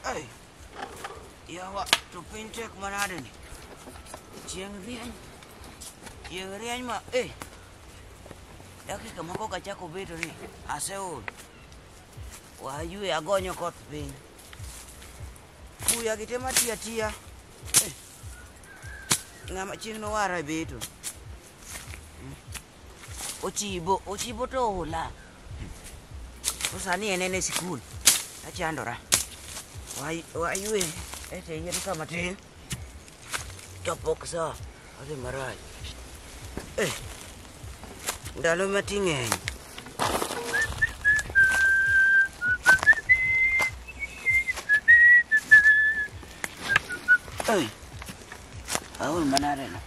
Ai, yawa to piny tek manade ni chieng' rieny chieng' rieny ma e dakika moko kachako bedo ni aseol wayue agonyo kot piny buya gi te matiya tiya Eh, ng'ama chieng' nowara e beto Ochibo, ochibo to ola. To sani en en e sikul. Achandora. Wai- Waywe ete yien ka matin. Chopok sa. Odhi marach. Eh. Ndalo mati ng'eny. Ei. Aol manadeno.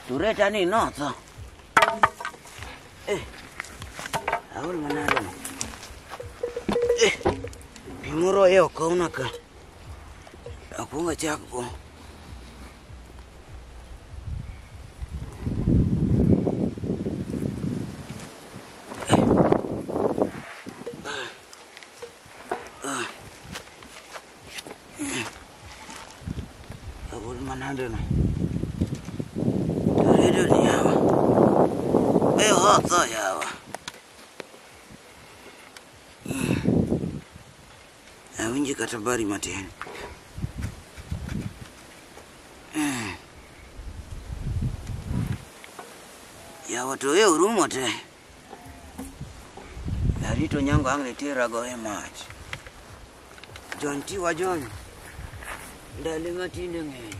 Tureta ni notho. Eh. Aol manade. Eh. Pi moro ye okawna ka. Akwongo achak go. Agol manade no. Redo ni yawa. Be hotho yawa. Awinji kata bari matin. Yawa to e urumo te. Narito nyango ang' niterago e mach. Jon tiwa Jon, ndalo ma tinde ng'eny.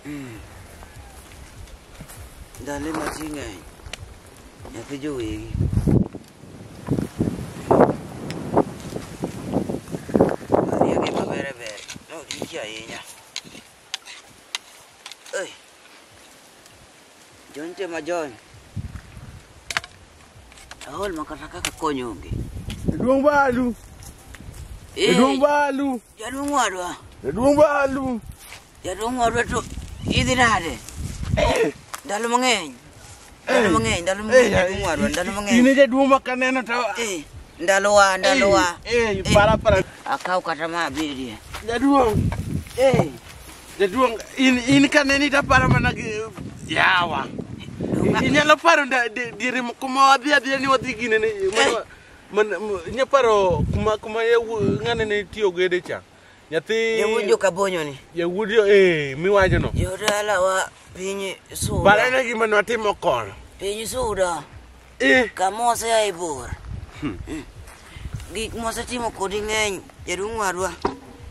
Mm. Ndalo ma ti ng'eny, nyathi jowegi. Ariyo gi mabere bere, ne odiki ahinya. Ei. John nitie ma John. Aol ma kata kaka kony onge. Jaduong' Balu. Eh, Jaduong' Balu. Jaduong' wadwa. Jaduong' Balu. Jaduong' wadwa to idhi nade? Ndalo mang'eny. Ndalo mang'eny, ndalo mang'eny jaduong' warwa, ndalo mang'eny. In e jaduong' ma kaneno to Eh, ndalowa, ndalowa. Eh, Eh, para para Akaw kata ma abirie. jaduong'. Eh, Jaduong' in in kaneni to aparo mana gi yawa. donga- Inyalo paro nda- di- diere mo- kuma wadhi adhiya ni wadhi gine ni mana- mana- inyalo paro kuma kuma yawu- ng'ane ne tiyo gede cha. Nyathi Yawuod joka bonyo ni. Yawuod jo eh miwacho no. Jodala wa piny suda. Bara ne gima ne watimo kor. Piny suda. Eh. Kamose ya ibor. Hmm. Hmm. Gik mose timo kodi ng'eny jaduong' wadwa.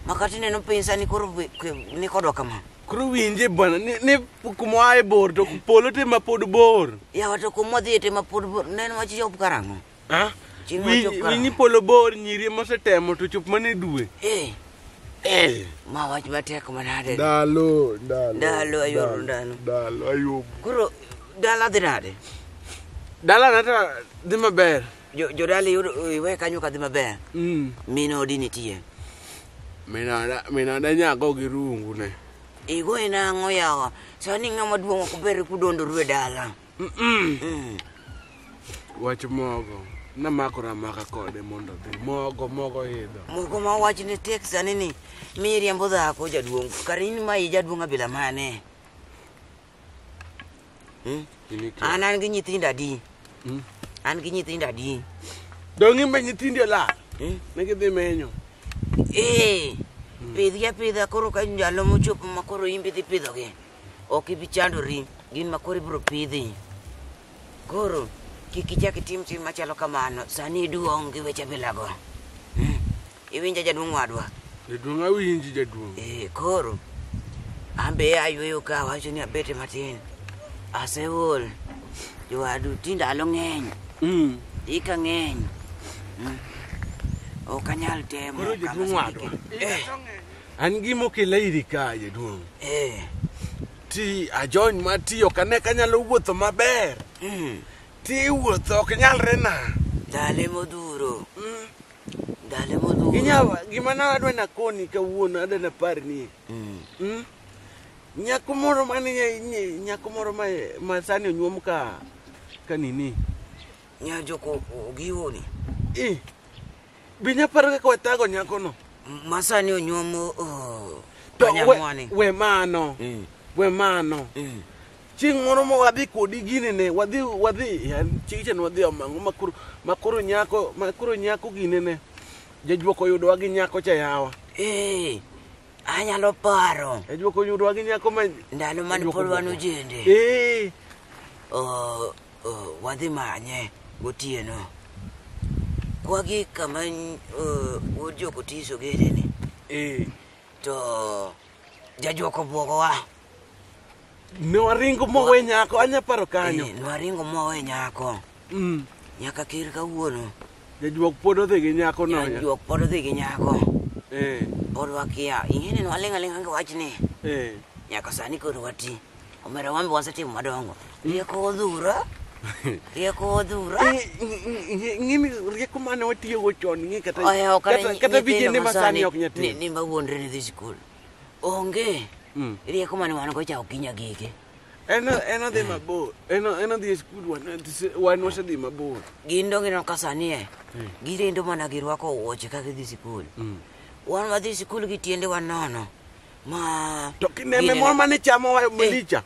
Makati neno piny sani koro ni kodwa kama. Koro winje bwana ni, ni kuma ae bor to polo te ma pod bor. Yawa to kuma dhi te ma pod bor. Neno wach job karang'o? Ah, Chieng' wi- mochop kara. Winyi polo bor nyiri mosetemo to chop mana e dwe. Eh, Eh. ma wach matek manade. Ndalo, ndalo. Ndalo, ayuoro ndalo. Ndalo, ayuomo. Koro dala dhi nade? Dala nata dhi maber. Jo- Jodala iyudo iwe kanyo ka dhi maber. Mm. Min odi nitie. Minada, minada nyako gi rungu ne. Igoye nang'o yawa? Sani ng'ama duong' ok ber kudondo rue dala. wach mogo namakora maka kode mondo dhi mogo mogo idho mogo ma wach ne tek sani ni miriambo dhako jaduong kar in ma i jaduong abila mane hmm? an an gi nyithindo adi hmm? an gi nyithindo adi dongi ma nyithindi olal hmm? ne gidhi menyo ee pidhgi apidha koro ka ndalo mochopo ma koro imbi dhi pidhogi Ok ibi chandori, gin ma koro ibiro pidhi. Koro kik ichak itim tim machalo kamano, sani iduong' gi weche bilago. Hmm. Iwinja jaduong' wadwa? Jaduong' awinji jaduong'. Eh, koro an be ayweyo ka awacho ni abete matin. Aseol. Jowadu ti ndalo ng'eny. Mm. Ika ng'eny. Mm. Ok anyal temo. Koro jaduong' wadwa. Eh. An gima okela iri ka jaduong'. Eh. Ti ajony ma ti ok ane ka anyalo wuotho maber. Mm. Ti wuotho ok nyalre na. Dale modhuro. Mm. Dale modhuro. Inyawa gima na adwa na koni kawuono adwa na par ni. Mm. Mm. Nyako moro mane nyako moro ma ma sani onyuom ka ka nini. Nyajo ko giwoni. Eh. Be inyalo paro kaka wathago nyakono? Masani onyuom oh, To we, panyamwani. we mano. Eh, We mano. eh. Chieng' moro ma wadhi kodi gini ne, wadhi wadhi ya, chieng' cha ne wadhi omango makoro makoro nyako makoro nyako gine ne. Jajuok oyudowa gi nyako cha yawa. Eh, anyalo paro Jajuok oyudowa gi nyako ma ndalo mane pod wan ojende. Eh, Oh, Oh, wadhi manye gotieno. Kwagi kama uh, wuod jokotiso gedeni. Eh. To jajuoko buogowa. Ne waringo mowe nyako, anya paro kanyo. Eh, nwaringo mowe nyako. Mm. Nyaka kir kawuono. Jajuok pod odhi gi nyako no. Jajuok pod odhi gi nyako. Eh. Pod wakia. Ing'e ni nwaling' aling'a gi wachni. Eh. Nyaka sani koro wati. Omera wambe wasetimo madongo. Rieko odhura. Rieko odhura. Ng'ini rieko mane watiyogo chon ng'e kata Oya ok kata- kata vijende masani ok nyati. Ni ni mawuondre ni dhi skul. Onge. Mm. Rieko mane wan go cha ok inya gige. En en odhi mabor. En en odhi e skul wan wan wasedhi mabor. Gin donge no ka sani e. Girindo mana girwako wuoche ka gidhi skul. Wan wadhi skul gi tiende wanono. Ma. To kineme Ginene- moro mane chamowa e malicha.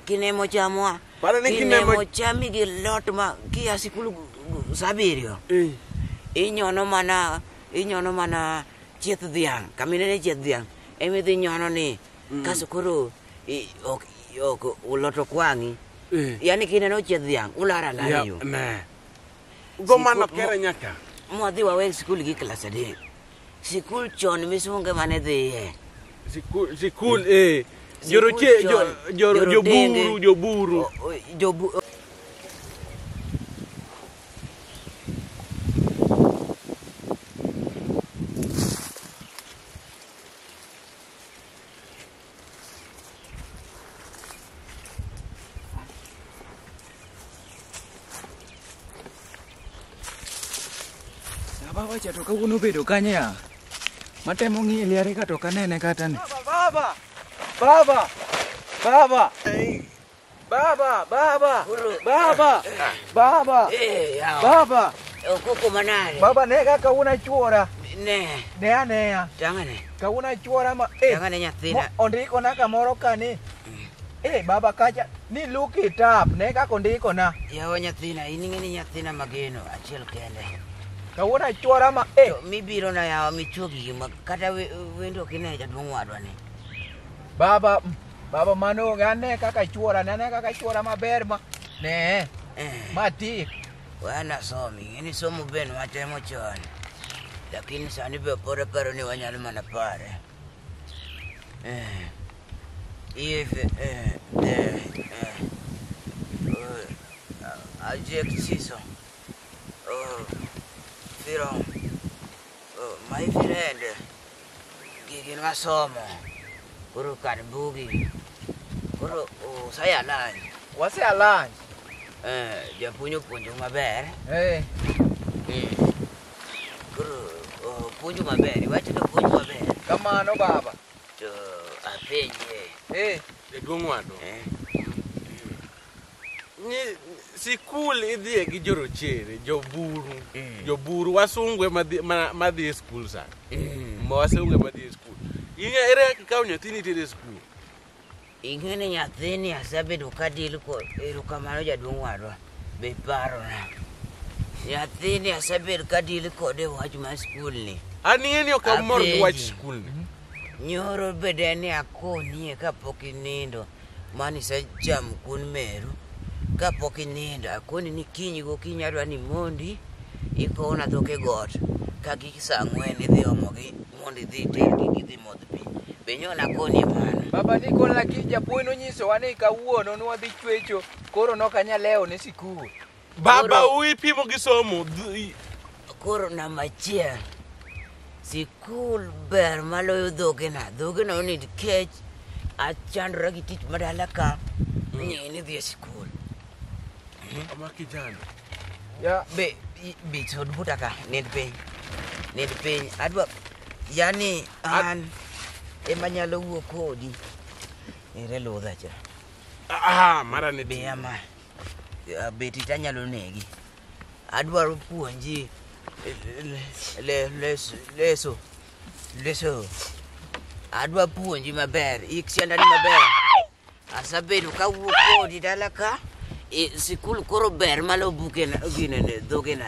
Kinemo chamowa. Pare ni kinemo- Kinemo chami gi lot ma kia sikul gu- gu- saa abiriyo. Eh. Inyono mana inyono mana chieth dhiang'. Kaminene chieth dhiang'. Emidhi nyono ni. Kaso koro i- ok ok uloto kwang'i. Eh. Yaani kineno chieth dhiang' ulara Ya, lariyo. ne. Go mano Sikut- kere nyaka. Mwadhi wawe sikul gi klas adek. Sikul chon misunge mane dhiye. Sikul, sikul eh. Joroche, Sikul jo, chon, jo, jorodenge. joburu, joburu. O- o- Jobu Babacha to kawuono obedo kanye ya? Matemo ng'iye liare ka to ok anene kata ni. Baba! Baba! Baba! Baba, baba, baba, baba, Eh, yawa. baba, Ukoko manade. baba ne ka kawuna chuora, Ne. ne aneya, Tangane. kawuna chuora ma, eh, Tangane mo- nyathina. ondikona kamoro ka ni, eh, baba kacha, ni look it up, ne kaka ondikona, Yawa nyathina, in ing'e ni nyathina mageno achiel kende. kawuna chuora ma, eh, To mibiro na yawa michuo gigi ma kata we- wendo ok ine jaduong' wadwa ni. baba, mm, Baba mano onge ane kaka chuora ne ane kaka chuora maber ma ne ma tik. Wana somi, ng'eni somo ben watemo chon. Lakini sani be pod aparo ni wanyalo mana pare. Eh, If eh, eh, eh, uh, adjectivo, uh, viram, Oh, my friend, gigi nwasomo. Koro kan bugi. Koro usaya lunch. Wase a lunch. Eh, japuonj opuonjo maber. Eh. Mm. Koro opuonjo maber, iwacho ni opuonjo maber. Kamano baba. To apenje. Eh. Jaduong' wadu. Eh. Ni- sikul idhiye gi jorochere joburu Mm. joburu wasungu ema dhi- ma- madhi e skul sa ma wasungu ema dhi e skul inya ere kaka ikawo nyathini itere e skul Ing'e ni nyathini asebedo ka deal kod erokamano jaduong' wadwa be parona. Nyathini asebedo ka deal kode e wach mar skul ni. an ing'e ni ok amor gi wach Apenji. skul ni Nyoro bede ni akonie kapok inindo. Mani isechamo kuon meru kapok inindo. Akoni ni kiny gokinyi adwa ni mondi ikowo na dhok e got ka gi saa ang'wen idhi omo gi mondo idhi iter gi gidhi modh pi. Be nyo nakoni mano? Baba ni koro lakini japuonj nonyisowa ni kawuono nwadhi chwecho koro nokanyal lewo ne sikul. Baba u ipimo gi somo. Dhi- Koro namba achiel, sikul ber maloyo dhogena. Dhogena onid kech, achandora gi tich madala ka, ni ni dhi e sikul. Ama kijana. Ya be i- be sod buta ka, nid piny. Nid piny. Adwa yani an ema nyalo wuo kodi. Ere ludha cha. Ah, mara ne Be ama. Ya, beti to anyalo negi adwaro puonji eh, le- le- les- leso leso adwa puonji maber ik siandani maber asabedo kawuok kodi dala ka eh, sikul koro ber malo bukena ginene dhogena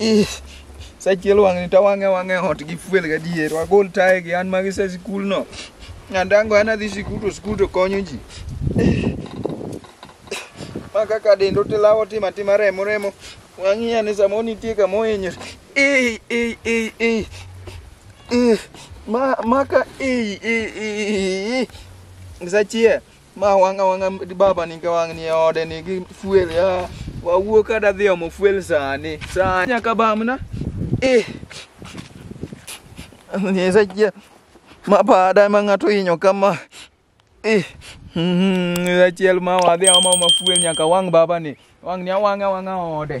Ih, Sachiel wang'ni to wang'e wang'e ot gi fuel gadier. Wagol taye gi an magi se sikul no. Nyandango an adhi sikul to sikul to konyo ji. Ih, Ma kaka dendo tilawo tima tima remo remo. Wang'i ane samoro nitie kama ohinyore. Ih, ih, ih, ih. Ih, Ma ma ka ih, ih, ih, ih. Sachiel. Ma wang' awang'a baba ni ka wang' ni e ode ni gi fuel ya. Wawuo ka da dhi omo fuel sani. Sani nyaka bamna. Eh. Ni sa chia. Ma pa da ma ng'ato inyo kama. Eh. Mhm, sa chiel ma wadhi omo ma fuel nyaka wang' baba ni. Wang' ni awang'a awang'a ode.